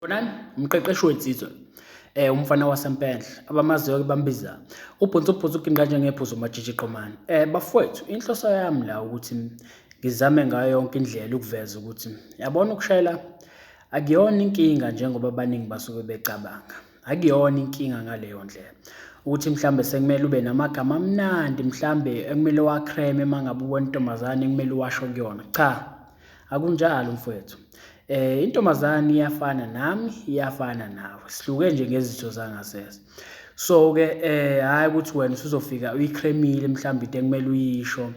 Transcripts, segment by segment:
Bonani umqeqeshi wensizwa eh umfana wasempenhle abamaziyo ke bambiza ubhonso ubhonso uginqa njengephuzo majiji qomani eh bafowethu inhloso yami la ukuthi ngizame ngayo yonke indlela ukuveza ukuthi yabona ukushayela akuyona inkinga njengoba abaningi basuke becabanga akuyona inkinga ngaleyo ndlela ukuthi mhlambe sekumele ube namagama amnandi mhlambe ekumele wakreme mangabe ubona intombazane ekumele washo kuyona cha Akunjalo mfowethu. Eh intombazane iyafana nami, iyafana nawe. Sihluke nje ngezitho zangasese. So ke eh hayi ukuthi wena usuzofika uyicremile mhlawumbe into ekumele uyisho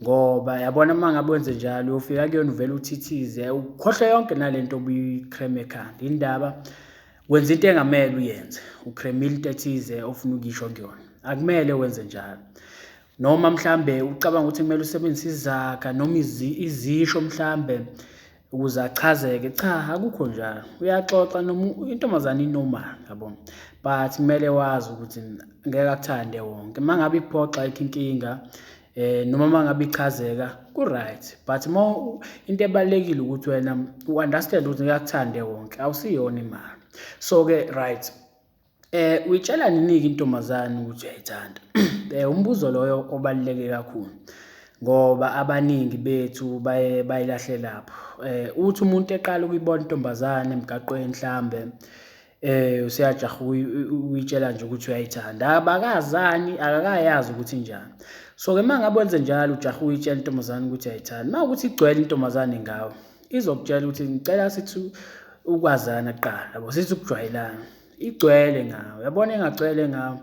ngoba yabona uma ngabe wenze njalo uyofika kuyona uvele uthithize ukhohlwe yonke nalento obuyicreme ekhanda indaba wenza into engamele uyenze ucremile into ethize ofuna ukuyisho kuyona akumele wenze njalo noma mhlambe ucabanga ukuthi kumele usebenzise izaga noma izisho mhlambe ukuze achazeke cha akukho njalo uyaxoxa noma intombazane inormal yabo but kumele wazi ukuthi ngeke akuthande wonke uma ngabe iphoxa ikho inkinga eh noma mangabe ichazeka ku right but uma into ebalekile ukuthi wena u understand ukuthi ngiyakuthande wonke awusiyona imali so ke right Eh uyitshela nini-ke intombazane ukuthi uyayithanda? Eh umbuzo loyo obaluleke kakhulu ngoba abaningi bethu baye bayilahle lapho. Eh uthi umuntu eqala ukuyibona intombazane emgaqweni mhlambe eh useyajaha uyitshela nje ukuthi uyayithanda abakazani akakayazi ukuthi njani so ke mangabe wenze njalo ujaha uyitshela intombazane ukuthi ayithandi mawukuthi igcwele intombazane ngawe izokutshela ukuthi ngicela sithi ukwazana kuqala yabo sithi ukujwayelana igcwele ngawo yabona engagcwele ngawo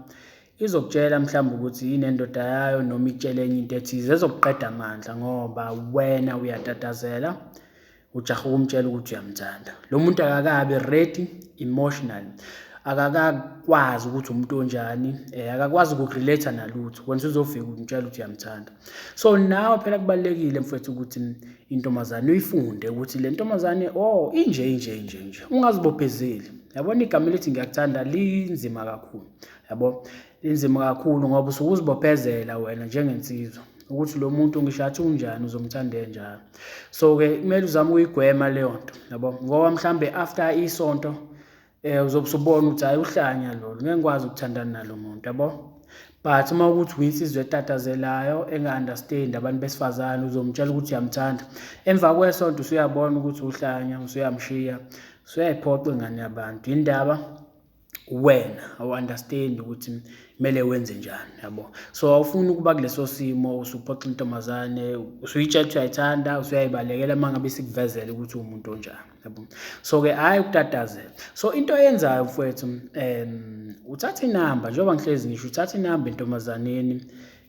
izokutshela mhlawumbe ukuthi yini endoda yayo noma itshele enye into ethize ezokuqeda amandla ngoba wena uyatatazela ujaha ukumtshela ukuthi uyamthanda lo muntu akakabi ready emotional akakakwazi ukuthi umuntu onjani eh, akakwazi ukurelate nalutho wena uzofika umtshela ukuthi uyamthanda so nawe phela kubalekile mfethu ukuthi intombazane uyifunde ukuthi le ntombazane o oh, inje inje inje nje ungazibophezeli yabona igama elithi ngiyakuthanda linzima kakhulu yabo linzima kakhulu ngoba usuke uzibophezela wena njengensizwa ukuthi lo muntu ngisho athi unjani uzomthanda enjalo so-ke kumele uzame ukuyigwema leyo nto yabo ngoba mhlawumbe after isonto Eh uzobe usubona ukuthi hayi uhlanya lolu ngeke ngikwazi ukuthandana nalo muntu yabo. But uma ukuthi uyinsizwa etatazelayo enga-understand abantu besifazane uzomtshela ukuthi uyamthanda. Emva kwesonto usuyabona ukuthi uhlanya usuyamshiya usuyayiphoqa ingane yabantu. Yindaba wena awu-understand ukuthi kumele wenze njani yabo so awufuni ukuba kuleso simo usuphoxa intombazane usuyitshela ukuthi uyayithanda usuyayibalekela uma ngabe sikuvezele ukuthi uwumuntu onjani yabo so ke hayi ukutatazela so into eyenzayo mfowethu um uthatha inamba njengoba ngihlezi ngisho uthatha inamba entombazaneni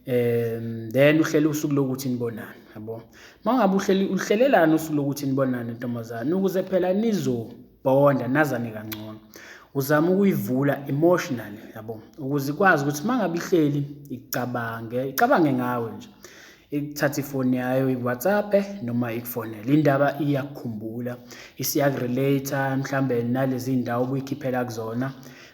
um then uhlele usuku lokuthi nibonane yabo uma ngabe uhleli uhlelelani usuku lokuthi nibonane ntombazane ukuze phela nizobonda nazane kangcono uzama ukuyivula emotionally yabo ukuze ikwazi ukuthi uma ngabe ihleli icabange icabange ngawe nje ikuthatha ifoni yayo iwhatsappe noma ikufonele indaba iyakukhumbula isiyakurelate mhlawumbe nalezi ndawo obuyikhiphela kuzona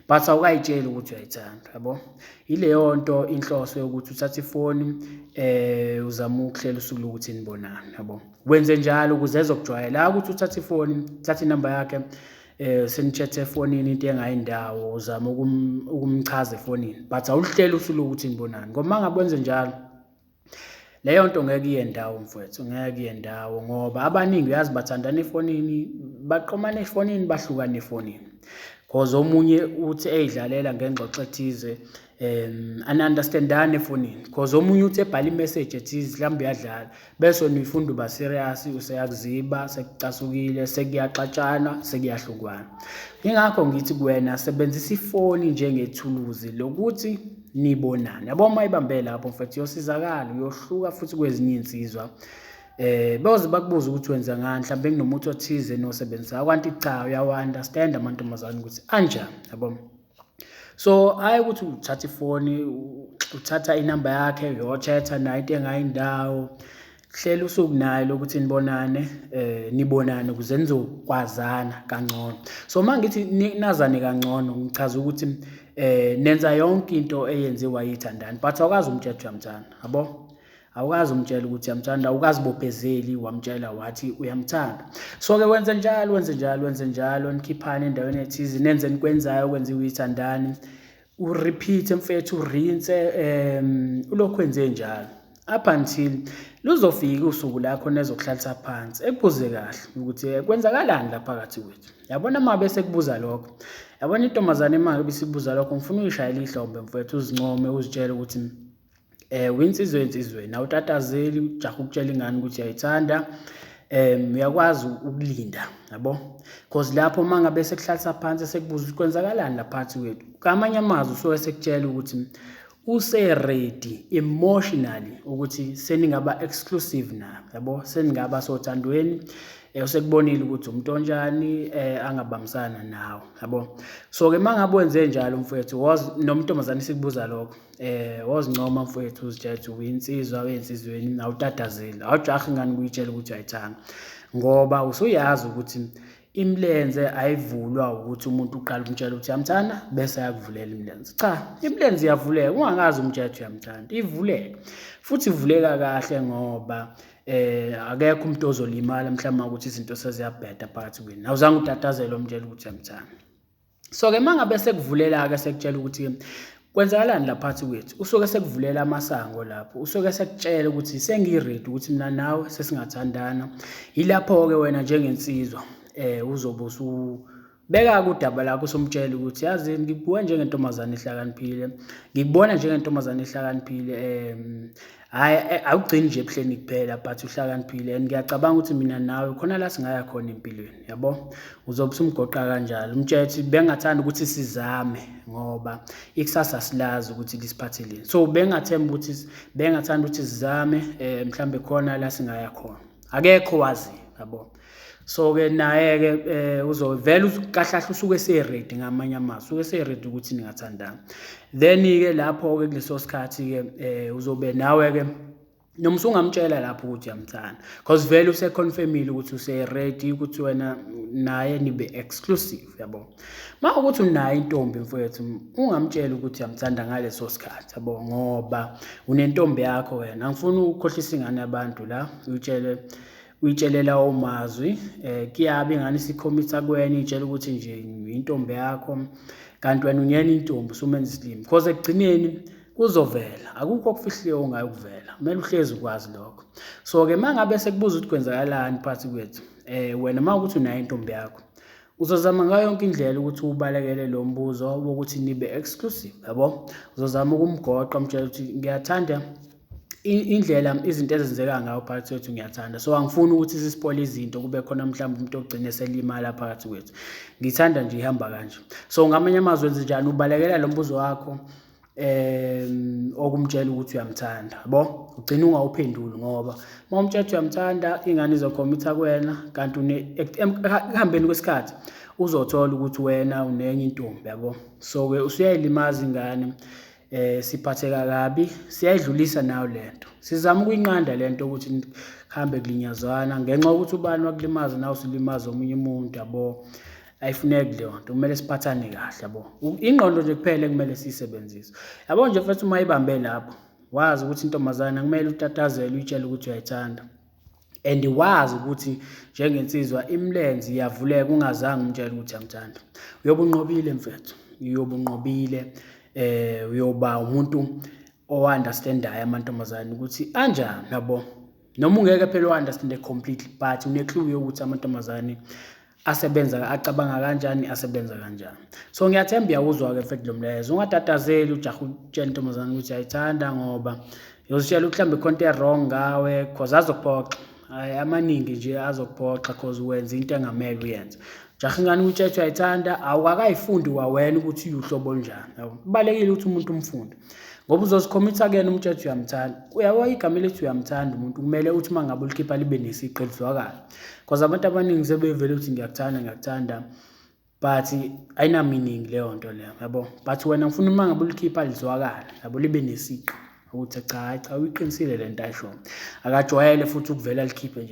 but awukayitsheli ukuthi uyayithanda yabo ileyo nto inhloso yokuthi uthathe ifoni eh uzama ukuhlela usuku lokuthi nibonane yabo wenze njalo ukuze ezokujwayela ukuthi uthathe ifoni thatha inamba yakhe eh senitshethe efonini into engayindawo uzama ukumchaza efonini but awuhlele usuku lokuthi nibonane ngoba mangabe wenze njalo Leyo nto ngeke iye ndawo mfwethu, ngeke iye ndawo ngoba abaningi uyazi bathandana efonini, baqomana efonini, bahlukane efonini. Cause omunye uthi eyidlalela ngengxoxo ethize um ani-understand-ani efonini cause omunye uthi ebhala imeseji ethize mhlawumbe uyadlala bese nifunda uba serious useyakuziba sekucasukile sekuyaxatshana sekuyahlukwana. Yingakho ngithi kuwena sebenzisa ifoni njengethuluzi lokuthi nibonane yabo uma ibambe lapho mfethu uyosizakala uyohluka futhi kwezinye iy'nsizwa eh bayoze bakubuza ukuthi wenza ngani mhlawumbe kunomuthi othize nosebenzisa kwanti cha uyawa-understand amantombazane ukuthi anjani yabo so hayi ukuthi uthatha ifoni uthatha inamba yakhe uyochetha nayo into engayindawo hlela usuku naye lokuthi nibonane eh nibonane ukuze nizokwazana kangcono so uma ngithi nazane kangcono ngichaza ukuthi eh nenza yonke into eyenziwa yithandani but awukazi umtshela uyamthanda yabo awukazi umtshela ukuthi uyamthanda awukazi bophezeli wamtshela wathi uyamthanda so ke wenze njalo wenze njalo wenze njalo nikhiphane endaweni ethize nenze nikwenzayo okwenziwa yithandani urepeat mfethu urinse um ulokhu enze njalo up until luzofika usuku lakho nezokuhlalisa phansi ekubuze kahle ukuthi eh, kwenzakalani la phakathi kwethu yabona uma bese kubuza lokho yabona intombazane imake bisibuza lokho ngifuna uyishayela ihlombe mfethu uzincome uzitshele ukuthi um winsizwe ensizweni awutatazeli ujaha ukutshela ingane ukuthi uyayithanda um uyakwazi ukulinda yabo because lapho uma ngabe sekuhlalisa phansi sekubuza ukuthi kwenzakalani laphansi kwethu kamanye amazwi usuke sekutshela ukuthi useredi emotionally ukuthi seningaba exclusive na yabo seningaba sothandweni eh, usekubonile ukuthi umuntu onjani eh, angabambisana nawo yabo so ke mangabe wenze njalo mfethu was nomuntu omazana sikubuza lokho eh wozincoma mfowethu uzijayethu uyinsizwa wensizweni nawutatazile awujahi ngani kuyitshela ukuthi ayithanga ngoba usuyazi ukuthi imilenze ayivulwa ukuthi umuntu uqala umtshela ukuthi yamthanda bese ayakuvulela imilenze cha imilenze iyavuleka ungangazi umtshela ukuthi uyamthanda ivuleka futhi ivuleka kahle ngoba eh akekho umuntu ozolimala mhlawumbe ukuthi izinto seziyabheda phakathi kwenu awuzange utatazele omtshela ukuthi uyamthanda so ke mangabe sekuvulela ke sekutshela ukuthi kwenzakalani laphathi kwethu usuke sekuvulela amasango lapho usuke sekutshela ukuthi sengiready ukuthi mina nawe sesingathandana yilapho ke wena njengensizwa eh uzobe usu beka kudaba lakho somtshela ukuthi yazi ngikuwe njengentombazane ehlakaniphile ngikubona njengentombazane ehlakaniphile um hhayi eh, awugcini nje ebuhleni kuphela but uhlakaniphile and ngiyacabanga ukuthi mina nawe khona la singaya khona empilweni yabo uzobe usumgoqa kanjalo umtshela ukuthi bengathanda ukuthi sizame ngoba ikusasa silazi ukuthi lisiphatheleni so bengathemba ukuthi bengathanda ukuthi sizame um mhlawumbe khona la singaya khona akekho wazi yabo so ke naye ke eh, uzovela kahlahle usuke eseready ngamanye amazwi usuke eseready ukuthi ningathandana then ke lapho ke kuleso sikhathi ke eh, uzobe nawe ke noma usungamtshela lapho ukuthi uyamthanda because vele useconfirmile ukuthi useready ukuthi wena naye nibe exclusive yabo uma ukuthi unayo intombi mfowethu ungamtshela ukuthi uyamthanda ngaleso sikhathi yabo ngoba unentombi yakho wena angifuni ukukhohlisa ingane yabantu la uyitshele uyitshelela omazwi eh kuyabe ngani sikhomitha kwenye itshela ukuthi nje intombi yakho kanti wena unyena intombi usumenza isilimi because ekugcineni kuzovela akukho okufihliwe ongayo kuvela kumele uhlezi ukwazi lokho so ke mangabe sekubuza ukuthi kwenzakalani phakathi kwethu eh wena mawukuthi unayo intombi yakho uzozama ngayo yonke indlela ukuthi ubalekele lo mbuzo wokuthi nibe exclusive yabo uzozama ukumgoqa umtshela ukuthi ngiyathanda indlela izinto ezenzeka ngayo phakathi kwethu ngiyathanda so angifuni ukuthi sisipole izinto kube khona mhlawumbe umuntu ogcine selimala phakathi kwethu ngithanda nje ihamba kanje so ngamanye amazwi enze njani ubalekela lo mbuzo wakho um okumtshela ukuthi uyamthanda bo ugcina ungawuphenduli ngoba uma umtshela ukuthi uyamthanda ingane izokhomitha kuwena kanti ekuhambeni kwesikhathi uzothola ukuthi wena unenye intombi yabo so-ke usuyayilimaza ingane eh siphatheka kabi siyayidlulisa nayo lento sizama ukuyinqanda lento ukuthi hambe kulinyazwana ngenxa ukuthi ubani wakulimaza nawe usulimaza omunye umuntu yabo ayifuneki leyo nto kumele siphathane kahle yabo ingqondo nje kuphela kumele siyisebenzise yabo nje futhi uma ibambe lapho wazi ukuthi intombazana kumele utatazele uyitshele ukuthi uyayithanda and wazi ukuthi njengensizwa imilenze iyavuleka ungazange umtshele ukuthi amthanda uyobe unqobile mfethu uyobe unqobile eh uyoba umuntu ounderstandayo amantombazane ukuthi anjani yabo noma ungeke phela uunderstande completely but une-clue yokuthi amantombazane asebenza acabanga kanjani asebenza kanjani so ngiyathemba uyawuzwa-ke mfethu lo mlayezo ungatatazeli ujaha utshela intombazane ukuthi ayithanda ngoba yozitshela ukuthi mhlawumbe khonto e-wrong ngawe cause azokuphoxa hayi amaningi nje azokuphoxa cause wenza into engamele uyenze jaha ingane ukuthi ethi uyayithanda awukakayifundi kwawena ukuthi uyuhlobo olunjani yabo kubalulekile ukuthi umuntu umfunde ngoba uzozikhomitha kuyena umtshetho uyamthanda uyabo igama elithi uyamthanda umuntu kumele uthi uma ngabe ulikhipha libe nesiqi elizwakala cause abantu abaningi sebevele ukuthi ngiyakuthanda ngiyakuthanda but ayinaminingi leyo nto leyo yabo but wena ngifuna uma ngabe ulikhipha lizwakala yabo libe nesiqu ukuthi cha cha uyiqinisile le nto ayishoyo akajwayele futhi ukuvela likhiphe nje